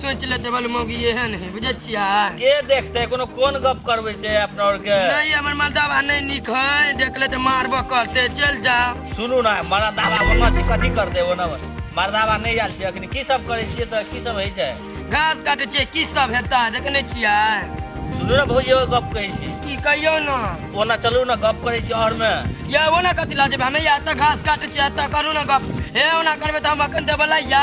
सोच ले देवल मौगी ये है नहीं बुझे छिया के देखते कोनो कोन गप करबे से अपना और के नहीं हमर मलदावा नहीं निक है देख ले तो मारबो करते चल जा सुनू ना मारा दावा मम्मा जी कथी कर देबो ना मारा दावा नहीं आल छै अखनी की सब करे छिए त की सब होई छै घास काटे छिए की सब हेता देखने छिया सुनू ना भौजी एगो गप कहै छी की कहियो ना ओना चलू ना गप करे छी और में या ओना कथी ला जेबे हमे या त घास काटे छिए त करू ना गप हे ओना करबे त हम अखन देबला या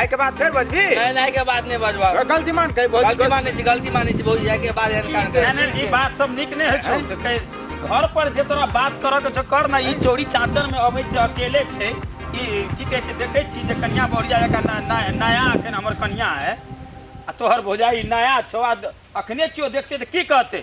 आइ के बाद फेर बजी नहीं नहीं के बात नहीं बजवा गलती मान के बहुत गलती माने छी गलती माने छी भौजी आइ के बाद एहन काम करे यानी ई बात सब नीक नहि होइ छौ से कहि घर पर जे तोरा बात करऽ के छौ कर ना ई चोरी चाचर में अबै छै अकेले छै ई की कहै छै देखै छी जे कन्या बढ़िया जकाँ ना- ना- नया एखन हमर कन्या है आ तोहर भौजाई नया छौ आ अखने केओ देखतै तऽ की कहतै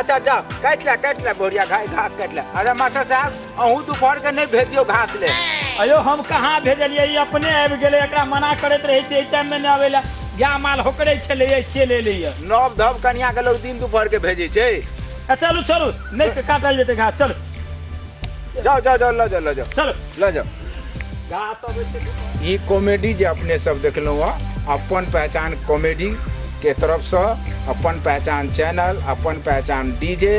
अच्छा जा काट ले काट ले गोरिया घा- घास काट ले अरे मास्टर साहब अहू दोपहर के नहीं भेजियो घास ले अयो हम कहाँ भेजलियै ई अपने आबि गेलै एकरा मना करैत रहै छै एहि टाइममे नहि अबै लए गाय माल होकरै छलै एहि चलि एलैए नव धव कनिया के लोग दिन दोपहर के भेजे छै आ चलू चलू नहि काटल जेतै घास चलू जाओ जाओ जाओ ला जाओ ला जाओ चलो ला जाओ ई कॉमेडी जे अपने सब देखलहुँ हँ अपन पहचान कॉमेडी के तरफसँ अपन पहचान चैनल अपन पहचान डीजे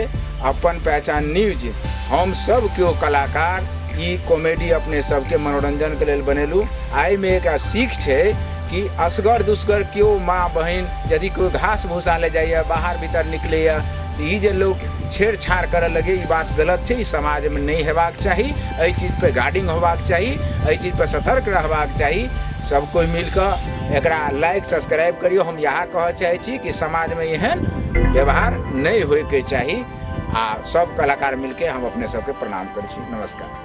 अपन पहचान न्यूज हम सब केओ कलाकार ई कॉमेडी अपने सबके मनोरंजन के लेल बनेलहुँ आइमे एकटा सीख छै कि असगर दुसगर केओ माँ बहिन यदि केओ घास भूसा ले जाइए बाहर भीतर निकलैए ई जे लोग छेड़छाड़ करऽ लगे ई बात गलत छै ई समाज में नहीं हेबाक चाही एहि चीज पे गार्डिंग होबाक चाही एहि चीज पे सतर्क रहबाक चाही सब कोई मिलकर एकरा लाइक सब्सक्राइब करियो हम यहाँ कह चाहे छी कि समाज में एहन व्यवहार नहीं होय के चाही आ सब कलाकार मिलके हम अपने सबके प्रणाम करै छी नमस्कार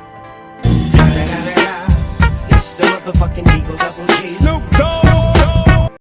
It's the motherfucking Eagle Double G. Snoop Dogg.